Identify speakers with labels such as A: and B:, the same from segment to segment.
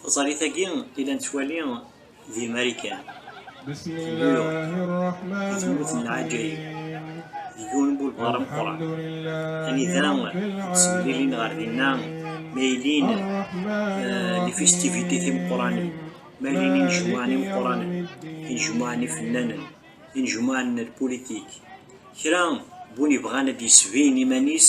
A: Taẓalit-agi i la nettwali di Marikan,
B: New York, di tmurt n Lɛaǧayib,
A: di
B: yiwen n wulbaṛ
A: ameqqran, anida
B: ttemlilin
A: ɣer dinna ma yellin
B: les festivités
A: timeqqranin, ma yellin
B: inejmuɛen
A: imeqqranen,
B: inejmuɛen
A: ifennanen, inejmuɛen n lpulitik, kra n win yebɣan ad d-yesbin iman-is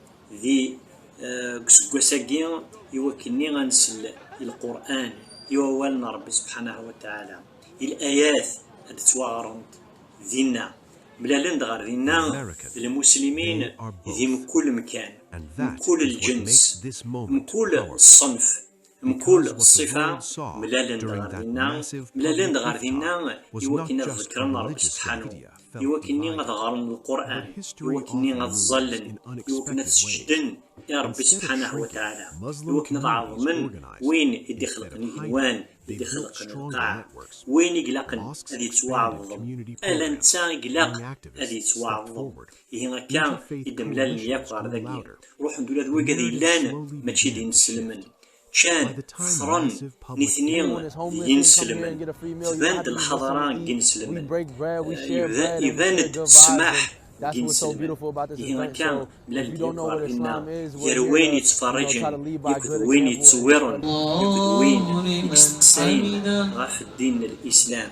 A: Di deg useggas-agi i wakken-nni a nsel i Lqur'an, i wawal n Rebbi Subḥanahu wa Taɛala, i l-ayat a d-ttwaɣrent dinna, mlalen-d ɣer dinna d lmuslimin di mkul mkan, mkul lǧens, mkul ṣṣenf. Mkul ṣṣifa mlalen-d ɣer dinna, mlalen-d ɣer dinna i wakken ad ḍekkren Ṛebbi sebḥanu, i wakken-nni ad ɣren Lqur'an, i wakken-nni ad ẓẓallen, i wakken ad seǧǧden i Ṛebbi sebḥanah wa tɛala, i wakken ad ɛeḍmen win i d-ixelqen igenwan, i d-ixelqen lqaɛ, win i ilaqen ad yettwaɛeḍḍem, ala netta i ilaq ad yettwaɛeḍḍem, ihi akka i d-mlalen yakk ɣer dagi ruḥen-d ula d wagad yellan mačči d ineselmen ččan xesren nitni d yineselmen tban-d lḥaḍara n yineselmen iban-d ssmaḥ n yineselmen ihi akka mlalen-d yakk ɣer dinna gar wayen yettferriǧen yakk d wayen yettewwiren yakk d wayen yesteqsayen ɣef ddin n lislam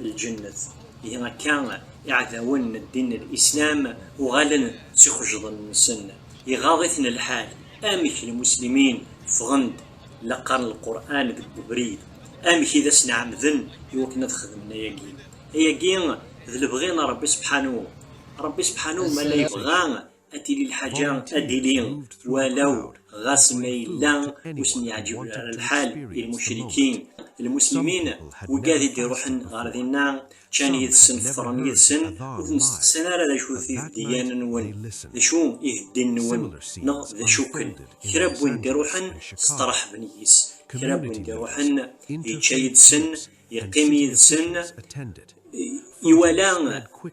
A: lǧennet. Ihi akka, iɛdawen n ddin n Lislam uɣalen s ixejḍen-nsen, iɣaḍ-iten lḥal, amek lmuslimin ffɣen-d la qqaren Lqur'an deg webrid, amek i d asen-ɛemmden i wakken ad xedmen ayagi. Ayagi d lebɣi n Rebbi Sebḥanu. Rebbi Sebḥanu ma la yebɣa. ad tili lḥaǧa ad d-ili walaw ɣas ma yella ur sen-yeɛǧib ara lḥal i lmucrikin lmuslimin wigad i d-iruḥen ɣer dinna ččan yid-sen fṭren yid-sen ur ten-steqsan ara d acu-t ibeddiyen-nwen d acu iheddin-nwen neɣ d acu-ken kra n win d-iruḥen steṛḥben yis kra n win d-iruḥen yečča yid-sen Yeqqim yid-sen, iwala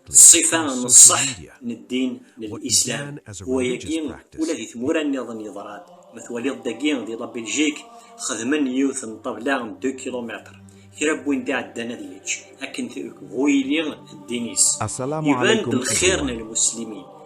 A: ṣṣifa n ṣṣeḥ n ddin n Lislam. Wayagi ula di tmura nniḍen yeḍra-d. Ma twaliḍ dagi di la Biljik xedmen yiwet n ṭṭabla n 2 kilumitr. kra n win d-iɛeddan ad yečč akken bu yili ddin-is. Iban-d lxir n lmuslimin.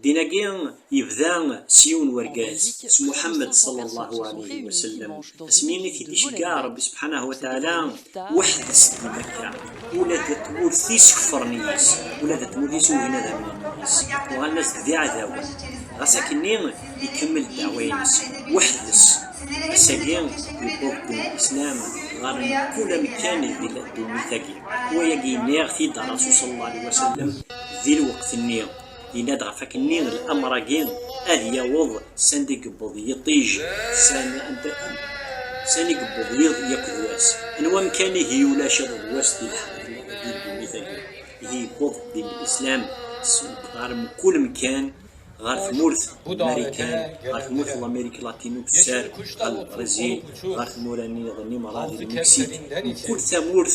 C: Ddin-agi
A: yebda s yiwen wergaz, s Muḥemmed ṣallallahu ɛaleyhi wasellem, asmi i t-id-iceggeɛ Ṛebbi sebḥanahu wa tɛala, weḥd-s di Mekka, ula di tmurt-is kefṛen yis, ula di tmurt-is ugin ad amnen yis, uɣalen-as-d d iɛdawen, ɣas akkenni ikemmel ddeɛwa-ines weḥd-s, ass-agi yewweḍ ddin n Lislam ɣer mkul amekkan di ddunit-agi, wayagi nniɣ-t-id Ṛasul ṣallallahu ɛaleyhi wasellem di lweqt-nni. Yenna-d ɣef wakken-nni amr-agi ad yaweḍ sanda i yewweḍ yiṭij, sani yewweḍ yiḍ yakk d wass. Anwa amkan ihi ulac iḍ d wass di ddunit-agi? Ihi yewweḍ din Lislam ɣer mkul amkan, ɣer tmurt n Marikan, ɣer tmurt n Lamirik Latinu Tussar, ɣer Lbrizil, ɣer tmura-nniḍen Imṛa d Lmeksik, mkul tamurt,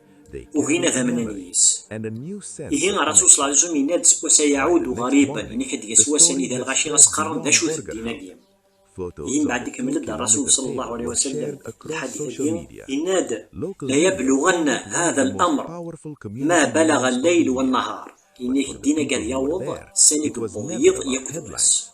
A: Ugin ad amnen yis. Ihi Rasul sallallahu alay wasallam yenna-d seg wass-a yaɛudu ɣariban, ini ḥedd deg-s wass anida lɣaci as-qqaren d acu-t ddin-agi. Ihi mbaɛd ikemmel-d Rasul sallallahu alay wasallam lḥadith-agi, yenna-d, la yabluɣanna hada l-amr ma balaɣa lleyl wa nnahar, ini-k ddin-agi ad yaweḍ sani yewweḍ yiḍ yakk d wass.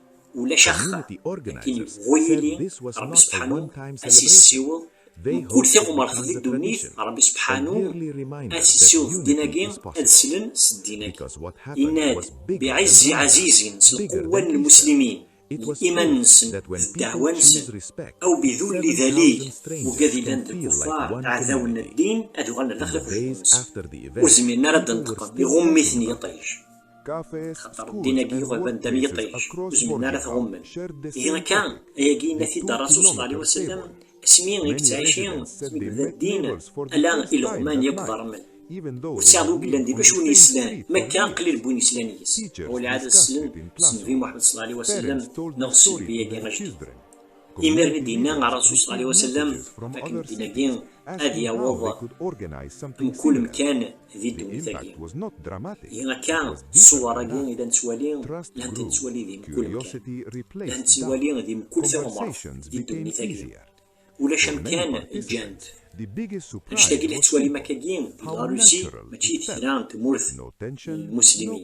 A: ulac axxam akken bu yili Ṛebbi sebḥanu ad s-yessiweḍ mkul tiɣmert di ddunit Ṛebbi sebḥanu ad s-yessiweḍ ddin-agi ad slen s ddin-agi yenna-d biɛizzi ɛazizin s lqewwa n lmuslimin d iman-nsen d ddeɛwa-nsen aw bidulli dalil uga d ilan d lkuffar aɛdaw n ddin ad uɣalen ar daxel n uqjun-nsen ur zmiren ara ad d-neṭqen iɣumm-iten yiṭij. xaṭer ddin agi yuɣaban d am yiṭij ur zmiren ara ad t-ɣummen. Ihi akka, ayagi yenna-t-id Rasul s allahu ɛlihi wasallam asmi i yettɛici asmi yebda ddin ala ileɣman yakk d rrmel. Ur tesɛiḍ wi yellan di bac win yeslan, ma akka qlil n win yeslan yes-s. Ɣur lɛadat slen s Nnbi Muḥemmed s allahu ɛlihi wasallam neɣ s Nnbi-agi ajdid. Imiren i d-yenna Rasul s ɛlihi wasallam akken ddin-agi ad yaweḍ mkul mkan di ddunit-agi. Ihi akka, ṣṣuwar-agi i la nettwali, la ntt-nettwali di mkul mkan, la nettwali di mkul tiɣemraḍ di ddunit-agi. Ulac amkan ǧǧan-t. Annect-agi la tettwalim akka-gi di Larusi mačči d kra n tmurt n lmuslimin.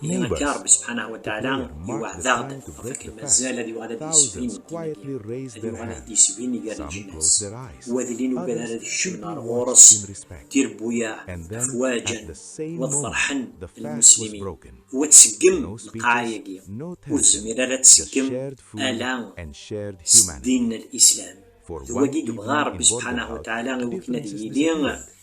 A: Yal akka Ṛebbi subḥanahu wa taɛala iweɛɛed-aɣ-d ɣef akken mazal ad yuɣal ad d-yesbin ddin-agi, ad yuɣal ad t-d-yesbin gar leǧnas. Wa d lli n ugad ara ad kecmen ɣer ɣur-s tirbuyaɛ, afwaǧa, wa d feṛḥen lmuslimin. Wa tseggem lqaɛa-agi, ur tezmir ara ad tseggem ala s ddin n Lislam. D wagi i yebɣa Ṛebbi subḥanahu wa taɛala i wakken ad yili